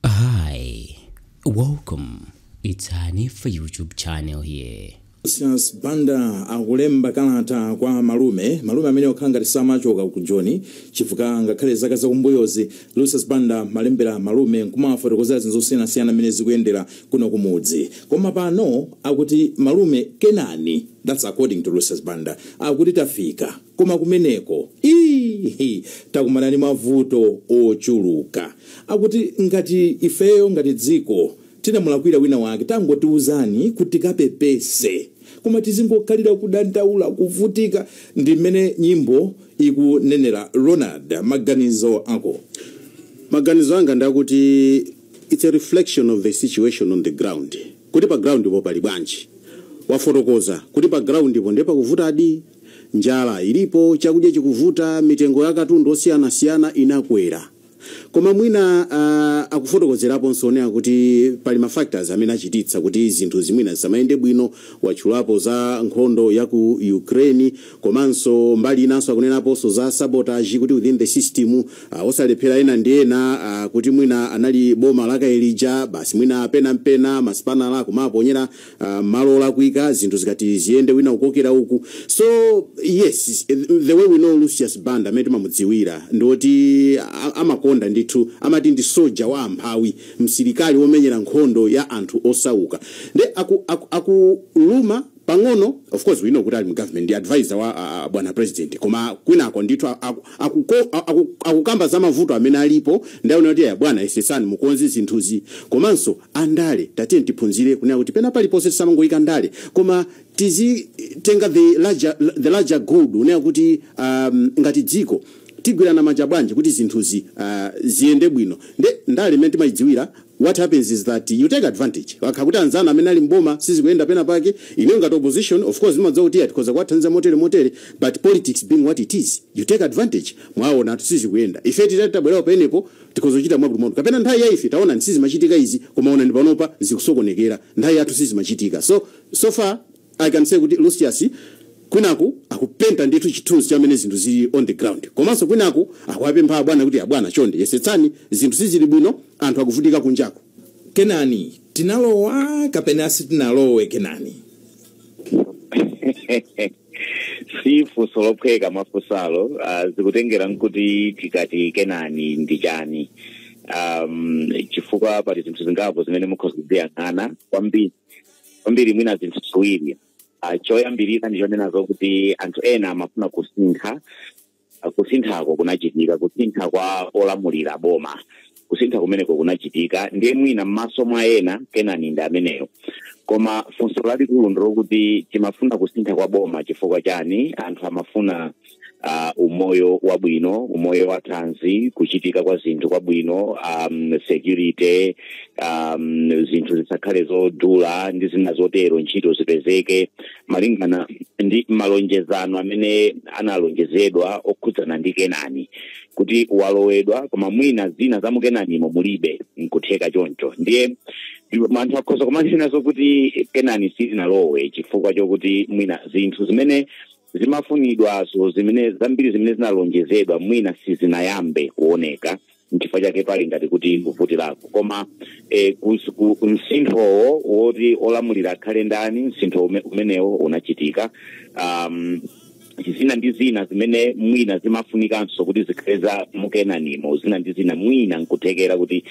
Hi, welcome. It's Hanifa YouTube channel here. Lucius Banda akulemba kalata kwa malume malume amene okhala ngati samachoka ku Joni chifukwa ngakhale zaka zakumbuyozi Lucius Banda malembera malume nkumawafotokozera zinthu zosiyanasiyana mmene zikuyendera kuno kumudzi koma pano akuti malume Kenani that's according to Lucius Banda akuti tafika koma kumeneko iihi takumana ndi mavuto ochuluka akuti ngati ifeyo ngati dziko tinamulakwira wina wake tangotiuzani kuti tikapepese koma tizingokhalira kudandaula kuvutika ndi mmene nyimbo ikunenera Ronald maganizo ako maganizo anga ndakuti its a reflection of the situation on the ground kuti pa ground po pali bwanji wafotokoza kuti pa ground po ndiye pakuvutadi Njala ilipo, chakudya chikuvuta, mitengo ya katundu osiyanasiyana inakwera. Koma mwina uh, akufotokozeraponso kunena kuti pali ma factors amene achititsa kuti zinthu zimwina zisamayende bwino. Watchulapo za nkhondo ya ku Ukraine komanso mbali inanso akunenaponso za sabotage kuti within the system uh, osalephera ena ndi ena uh, kuti mwina anali boma lakale lija basi mwina pena mpena masipanala kumaponyera uh, malo olakwika zinthu zikati ziyende wina kukokera uku so yes the way we know Lucius Banda amene timamudziwira ndi oti a- amakonda ndithu amati ndi soja wa amphawi msilikali womenyera nkhondo ya anthu osauka nde akuluma aku, aku akuluma pang'ono of course we know kuti ali mu government ndi advisor wa a- a- bwana president koma kwinako ndithu aku- akuko- aku- akukamba za mavuto amene alipo kunena kuti abwana yesetsani mukonze zinthuzi komanso andale tatiyeni tiphunzire kunena kuti pena paliponse tisamangoyika ndale koma tizitenga the larger, the larger good kunena kuti um, ngati dziko tigwirana manja bwanji kuti zinthuzi uh, ziyende bwino nde ndale imene timayidziwira what happens is that you take advantage ngati kuti anzanga amene ali mboma sizikuyenda pena pake ineyo ngati opposition of course ndimadziwa kuti tikhoza kuwathandiza motere motere but politics being what it is you take advantage mwaona sizikuyenda ife titati tabwerawo penepo tikhoza kuchita mwakutimwakuti kapena nthawi ya ife taonani sizimachitika izi koma onani panopa zikusokonekera nthawi yathu sizimachitika so so far i can say kuti Lucius kwinaku akupenta ndithu chithunzi chamene zinthu zili on the ground komanso kwinaku akuwapempha abwana kuti abwana chonde yesetsani zinthu sizili bwino anthu akuvutika kunjaku Kenani tinalowa kapena sitinalowe Kenani si funso lophweka mwafunsalo uh, zikutengera nkuti tikati Kenani ndi chani um, chifukwa pali zinthu zingapo zimene mukhoza kuziyang'ana kwambiri kwambiri mwina zinthu ziwiri uh, choyambirira ndi chonena zokuti anthu ena amafuna kusintha ah, kusinthako kunachitika kusintha kwa olamulira boma kusintha kumeneko kunachitika ndiye mwina m'maso mwa ena kenani ndi ameneyo koma funso lalikulu ndilokuti timafuna kusintha kwa boma chifukwa chani anthu amafuna uh, umoyo wabwino umoyo wa thanzi kuchitika kwa zinthu kwabwino um, security um, zinthu zisakhale zodula ndi zina zotero ntchito zipezeke malingana ndi malonjezano amene analonjezedwa okhudzana ndi kenani kuti walowedwa koma mwina zina za mukenanimo mulibe nkutheka choncho ndiye anthu akhoza kumanenanso kuti kenani sitinalowe chifukwa chokuti mwina zinthu zimene zimafunidwazo zimene zambiri zimene zinalonjezedwa mwina sizinayambe kuoneka nchifukwa chake pali ngati kuti kuvutirako koma eh, kus- ku- ku- msinthowo woti olamulira akhale ndani msintho ume- umenewo unachitika um, zina ndi zina zimene mwina zimafunikanso kuti zikhale za mukenanimo zina ndi zina mwina nkuthekera kuti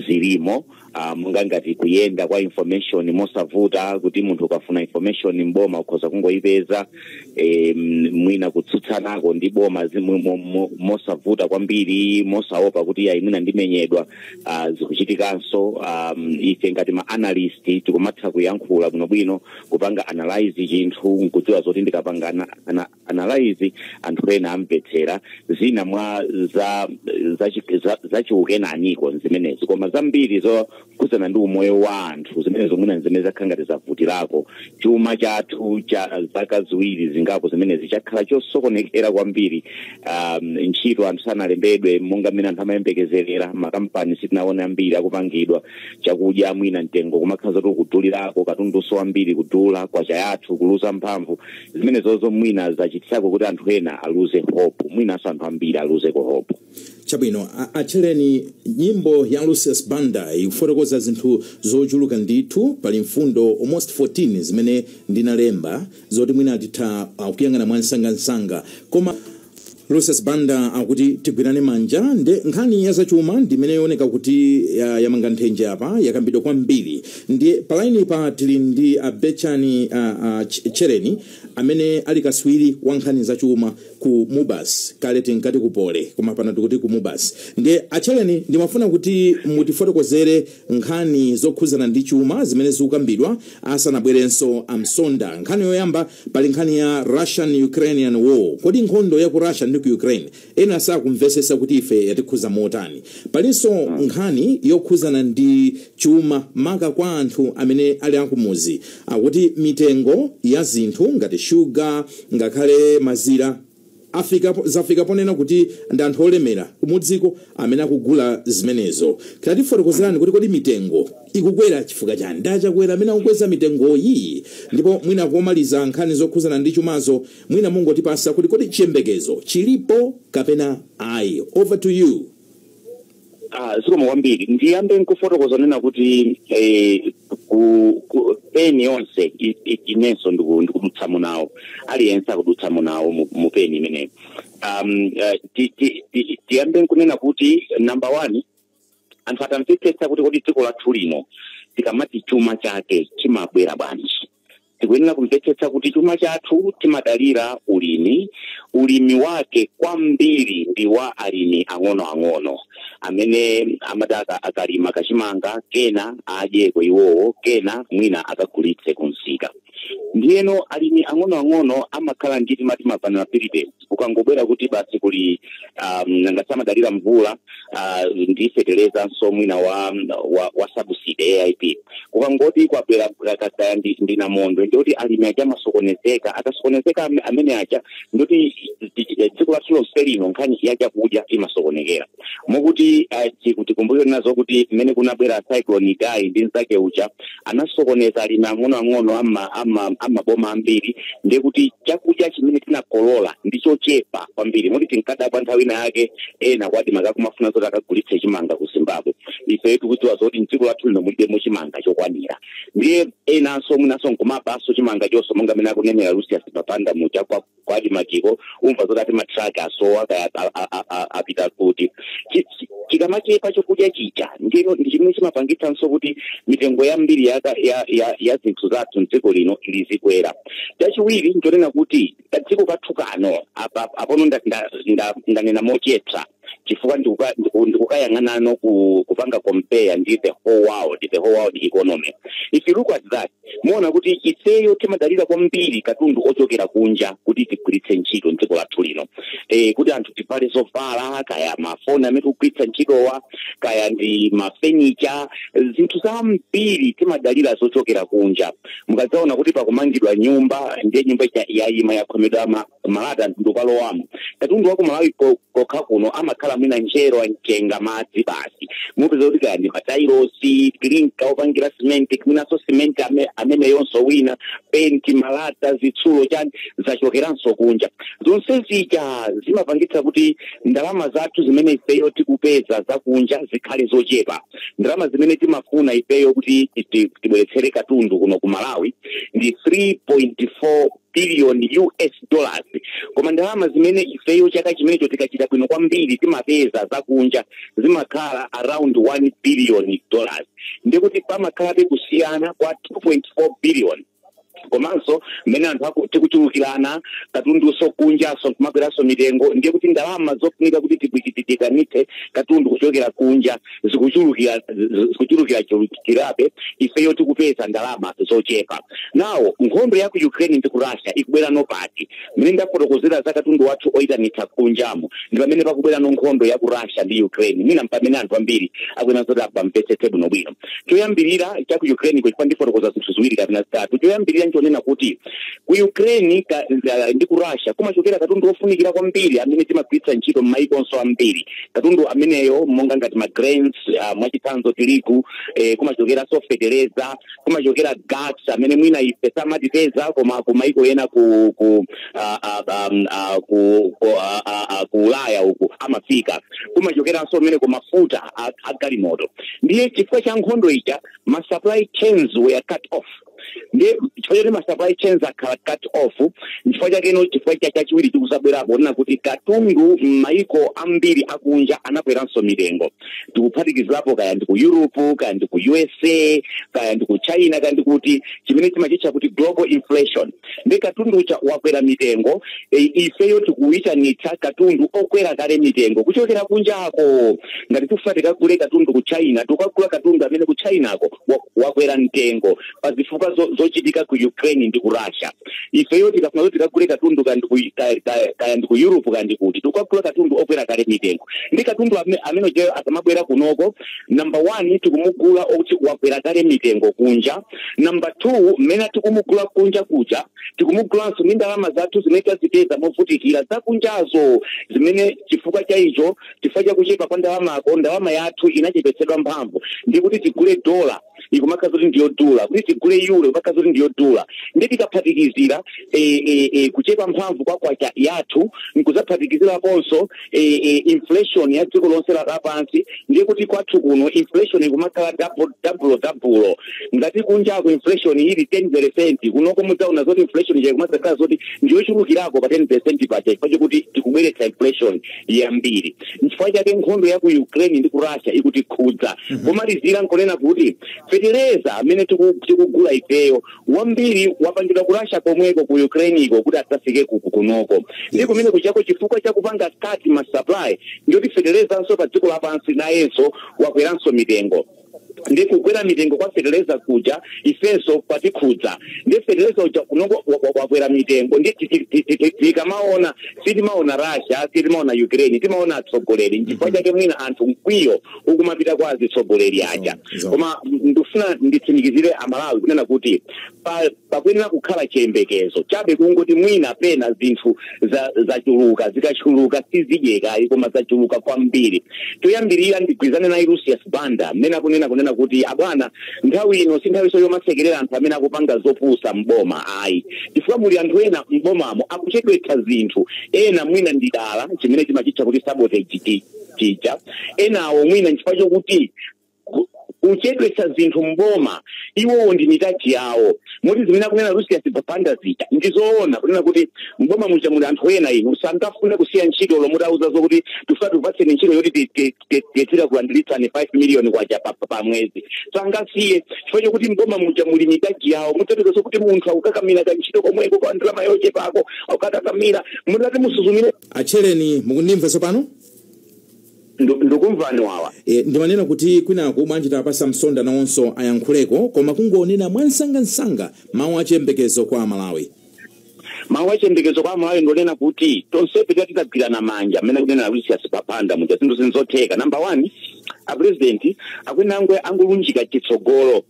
zilimo uh, monga ngati kuyenda kwa information mosavuta kuti munthu ukafuna information mboma ukhoza kungoyipeza e, mwina kutsutsanako ndi boma mo- mo- mosavuta kwambiri mosaopa kuti ayi mwina ndimenyedwa uh, zikuchitikanso um, ife ngati ma analyst tikumatha kuyankhula bwinobwino kupanga analyze chinthu nkudziwa zoti ndikapanga ana, ana, analyze anthu ena amvetsera zina mwa za zachi- za- zachiukenaniko zimenezi koma zambiri zokhudzana ndi umoyo wa anthu zimenezo mwina zimene zakhala ngati zavutirako chuma chathu cha zaka ziwiri zingapo zimenezi chakhala chosokonekera kwambiri um, ntchito anthu sanalembedwe monga mmene anthu amayembekezerera makampani sitinaone ambiri akupangidwa chakudya mwina mtengo kumakhala zoti kudulirako katundunso wambiri kudula kwacha yathu kuluza mphamvu zimenezozo mwina zachititsako kuti anthu ena aluze hope mwinanso anthu ambiri aluzeko hope chabwino a- a Tchereni nyimbo ya lucius banda ikufotokoza zinthu zochuluka ndithu pali mfundo almost 14 zimene ndinalemba zoti mwina titha uh, kuyang'ana mwamsangamsanga koma Lucius Banda akuti tigwirane manja nde nkhani ya zachuma ndimene ikuoneka kuti ya- yamanga nthenje apa yakambidwa kwambiri ndiye palainipa tili ndi a Betchani uh, uh, Tch- Tchereni amene ali katswiri wa nkhani zachuma ku mubas kale tinkati ku Poly koma pano tikuti ku mubas ndiye a Tchereni ndimafuna kuti mutifotokozere nkhani zokhudzana ndi chuma zimene zikukambidwa asanabwerenso a msonda nkhani yoyamba pali nkhani ya russian ukrainian war kodi nkhondo ya ku russia ndi ku ukraine ena sakumvetsetsa kuti ife yatikhudza motani palinso nkhani yokhudzana ndi chuma maka kwa anthu amene ali akumuzi akuti mitengo ya zinthu ngati shuga ngakhale mazira Afika po, zafika ponena kuti ndi anthu olemera kumudziko amene akugula zimenezo. Tatifotokozerani kuti kodi mitengo ikukwera chifukwa chani? Ndi a Chakwera amene akukweza mitengoyi? Ndipo mwina komaliza nkhani zokhuzana ndi chumazo mwina mungotipasa kuti kodi chiyembekezo chilipo kapena ayi? Over to you. Ah, zikomo kwambiri ndiyambe nkufotokoza kunena kuti eh, ku- ku- peni yonse i- i- inenso ndiku- ndikudutsamo nawo aliyense akudutsamo nawo mu- mu peni imeneyo um, eh, ti- ti- ti- tiyambe nkunena kuti number one anthu atamvetsetsa kuti kodi dziko lathu lino tikamati chuma chake chimabwera bwanji tikuyenera kumvetsetsa kuti chuma chathu timadalira ulimi ulimi wake kwambiri ndi wa alimi ang'onoang'ono amene amati aka- akalima kachimanga kena adyeko iwowo kena mwina akagulitse kumsika ndiyeno alimi ang'onoang'ono amakhala ndi timati mavulnerability kukangobwera kuti basi kuli um, nanga si amadalira mvula uh, ndi feterezanso mwina wa, wa, wa subsidy AIP kukangoti kwabwera ka- kaya ndi, ndi namondwe ndikuti alimi aja amasokonezeka akasokonezeka ame- amene aja ndikuti dziko lathu lonse lino nkhani ya chakudya imasokonekera mokuti tikumbukire nazo kuti mmene kunabwera cyclone Idai ndi mzake uja anasokoneza alimi ang'onoang'ono ama- ama- amaboma ambiri ndiye kuti chakudya chimene tinakolola ndi chochepa kwambiri moti tinkadabwa nthawi ina yake ena kwa ADMARC akumafuna zoti akagulitse chimanga ku zimbabwe ife tikudziwa zoti mdziko lathu lino mulibemo chimanga chokwanira ndiye enanso mwinanso nkumabaso chimangachonso monga mmene akunenera Lucius Banda muja kwa ku ADMARC-ko umva zoti ati matraki asowa kaya a- a- a- a- apita kuti Chi- chi- chikamachepa chokudya chija ndino ndi chimene chimapangitsanso kuti mitengo yambiri yaka- ya, ya, ya zinthu zathu mdziko lino izikwera chachiwiri nchonena kuti kadziko kathu kano apa- apono nda- nda- nda- ndanena mochepsa chifukwa ndikuka- ndiku- ndikukayang'anano ku- kupanga compare ndi the whole world the whole world economy if you look at that muona kuti ifeyo timadalira kwambiri katundu ochokera kunja kuti tigwiritse ntchito mdziko lathu lino eh, kuti anthu tivale zovala kaya mafoni amene tikugwiritsa ntchitowa kaya ndi mafenicha zinthu zambiri timadalira zochokera kunja mukadzaona kuti pakumangidwa nyumba ndiye nyumba ija yayima yakhomedwa ma- malata munthu ukalowamo katundu wa kumalawi ko- kokha kuno amakhala mwina njerwa mchenga madzi basi mupeza kuti kaya ndi matairosi clinker opangira simenti mwinanso simenti ame- ameneyonso mwina penti malata zitsulo chani zachokeranso kunja zonse zija zimapangitsa kuti ndalama zathu zimene ifeyo tikupeza zakunja zikhale zochepa ndalama zimene timafuna ifeyo kuti ti- tibweretsere katundu kuno ku malawi ndi 3.4 billion us dollars koma ndalama zimene ifeyo chaka chimenecho tikachita bwino kwambiri timapeza zakunja zimakhala around 1 billion dollars ndiye kuti pamakhalabe kusiyana kwa 2.4 billion komanso mmene anthu aku- tikuchulukirana katundunso kunjanso kumakweranso mitengo ndiye kuti ndalama zofunika kuti tiyitanitse katundu kuchokera kunja zikuchulukira zi- zikuchulukira chulukirabe ifeyo tikupeza ndalama zochepa now nkhondo ya ku ukraine ndi ku russia ikubwerano pati mmene ndafotokozera za katundu wathu oyitanitsa kunjamo ndi pamene pakubwerano nkhondo ya ku russia ndi ukraine mwina mpamene anthu ambiri akuyenera zoti apamvetsetse bwinobwino choyambirira cha ku ukraine kuchifukwa ndifotokoza zinthu ziwiri kapena zitatu choyambirira nchonena kuti ku ukraine ka, ndi ku russia kumachokera katundu wofunikira kwambiri amene timagwiritsa ntchito m'maiko onse ambiri katundu ameneyo monga ngati ma grains uh, mwachitsanzo tirigu eh, kumachokeranso fetereza kumachokera gas amene mwina ife samatikhudza koma kumaiko ena ku ku ah, ah, ah, mm, ah, ku ku ah, ah, ah, ku ulaya uku amafika kumachokeranso mmene ku mafuta a- a galimoto ndiye chifukwa cha nkhondo ija ma supply chains were cut off ndiye chifukwa choti ma supply chains akhala cut off nchifukwa chakeno chifukwa chachiwiri chikudzabwerapo chonena kuti katundu m'mayiko ambiri akunja anakweranso mitengo tikuphatikizirapo kaya ndi ku europe kaya ndi ku usa kaya ndi ku china kaya ndi kuti chimene timachitcha kuti global inflation ndiye katundu uja wakwera mitengo e, ifeyo tikuyitanitsa katundu okwera kale mitengo kuchokera kunjako ngati tikufuna tikagule katundu ku china tikukagula katundu amene ku chinako wa- wakwera mtengo pa zifukwa zo- zochitika ku ukraine ndi ku russia ifeyo tikafuna kuti tikagule katundu kandi ku- ka- ka- kaya ndi ku europe kandi kuti tikukagula katundu okwera kale mitengo ndiye katundu amene- amene ujayo akamabwera kunoko number one tikumugula okuti wakwera kale mitengo kunja number two mmene tikumugula kunja kuja tikumugulanso ndi ndalama zathu zimene tazipeza movutikira zakunjazo zimene chifukwa cha icho chifukwa cha kuchepa kwa ndalamako ndalama yathu inachepetsedwa mphamvu ndiye kuti tigule dola ikumakhala zoti ndiyodula kuti tigule euro ikumakhala zoti ndiyodula ndiye tikaphatikizira eh, eh, eh, kuchepa mphamvu kwa kwacha yathu nkuzaphatikiziraponso eh, eh, inflation ya dziko lonse la- lapansi ndiye kuti kwathu kuno inflation ikumakhala double double double ngati kunjako inflation ili 10 percent kunoko mudzaona zoti inflation ija ikumakhala zoti ndiyochulukirako pa 10 percent paja chifukwa chakuti tikubweretsa inflation yambiri nchifukwa chake nkhondo ya ku ukraine ndi ku russia ikutikhudza pomalizira nchonena kuti fetereza amene tiku- tikugula ifeyo wambiri wapangidwa ku russia komweko ku ukraine iko kuti adzafike ku- ku- kunoko ndi kumene kujako chifukwa cha kupanga cut ma supply ndiye kuti feterezanso pa dziko lapansi nayenso wakweranso mitengo ndi kukwera mitengo kwa feteleza kuja ifenso kwatikhudza ndi feteleza uja kunoko wakwera mitengo ndi tikamaona sitimaona russia sitimaona ukraine timaona atsogoleri nchifukwa chake mwina anthu mkwiyo ukumapita kwa azitsogoleri aja koma ndifuna nditsimikizire amalawi kunena kuti pa Pakuyenera kukhala chiyembekezo. Chabe kungoti mwina pena zinthu za, zachuluka zikachuluka sizidyeka ayi koma zachuluka kwambiri. Choyambirira ndigwirizane naye Lucius Banda mmene akunena kunena kuti abwana nthawi ino si nthawinso yomasekerera anthu amene akupanga zopusa m'boma ayi chifukwa muli anthu ena m'bomamo akuchedwetsa zinthu ena mwina ndi dala chimene timachitcha kuti sabotage chija enawo mwina nchifukwa chokuti kuchedwetsa zinthu mboma iwowo ndi mitaji yawo moti zimene akunena lucius banda zija ndi zoona kunena kuti mboma muja muli anthu ena inu sangafune kusiya ntchito olo mutauza zokuti tifuna tikupatseni ntchito yoti tidzera kulandiritsani 5 miliyoni kwacha pa mwezi sangasiye chifukwa chokuti mboma muja muli mitaji yawo mudzapeza zokuti munthu akukakamira kantchito komweko ka ndalama yochepako akukakamira mutati musuzumire a tcheyamani mukundimva tsopano Ndikumvani wawa E, ndimanena kuti kwinaku bwanji tiwapatse a Msonda nawonso ayankhuleko koma kungonena mwansangansanga mawu achiyembekezo kwa amalawi mawu achiyembekezo kwa amalawi ndonena kuti tonsefe tiya titagwirana manja mmene akunena lucius banda muja zinthu nzotheka namba one apresidenti akwene angwe angolunjika chitsogolo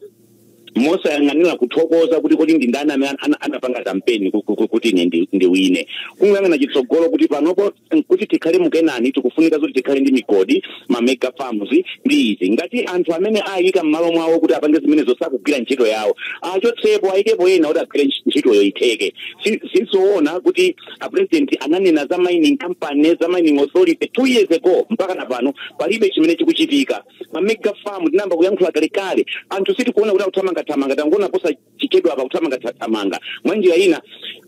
mosayang'anira kuthokoza kuti kodi ndi ndani amene anapanga kampeni kuti ine ndiwine kungoyang'ana chitsogolo kuti panopo kuti tikhale mu Kenani tikufunika zoti tikhale ndi migodi ma mega farms ndi izi ngati anthu amene ayika m'malo mwawo kuti apange zimenezo sakugwira ntchito yawo achotsepo ayikepo ena kuti agwire ntchitoyo itheke sizoona kuti apresident ananena za mining company za mining authority two years ago mpaka na pano palibe chimene chikuchitika ma mega farm tinayamba kuyankhula kalekale anthu sitikuona kuti akuthamangathamanga tangoona posachedwapa kuthamangathamanga mwa njira ina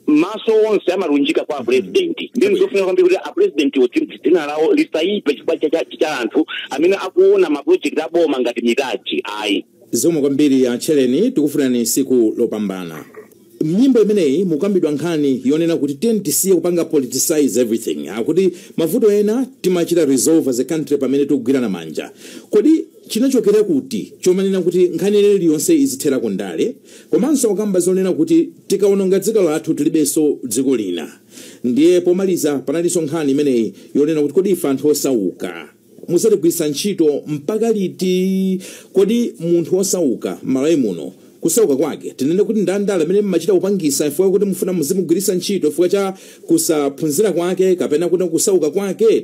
maso onse amalunjika kwa apurezidenti ndi ndizofunika kwambiri kuti apurezidentiwo dzina lawo lisayipe chifukwa cha- cha- cha anthu amene akuona mapulojekiti aboma ngati mitaji ayi zikomo kwambiri a tcheyamani tikufunirani tsiku lopambana M'nyimbo imeneyi mukukambidwa nkhani yonena kuti tiyeni tisiye kupanga politicize everything. Akuti mavuto ena timachita resolve as a country pamene tikugwirana manja. Kodi chinachokera kuti chomanena kuti nkhani ina iliyonse izithera ku ndale? Komanso akukamba zonena kuti tikawononga dziko lathu tilibenso dziko lina. Ndiye pomaliza panalinso nkhani imeneyi yonena kuti kodi ife anthu osauka. mudzatigwiritsa ntchito mpaka liti? Kodi munthu wosauka m'Malawi muno kusauka kwake tinene kuti ndi andale amene mmachita kupangisa chifukwa kuti mufuna muzimugwiritsa ntchito chifukwa cha kusaphunzira kwake kapena kuti kusauka kwake?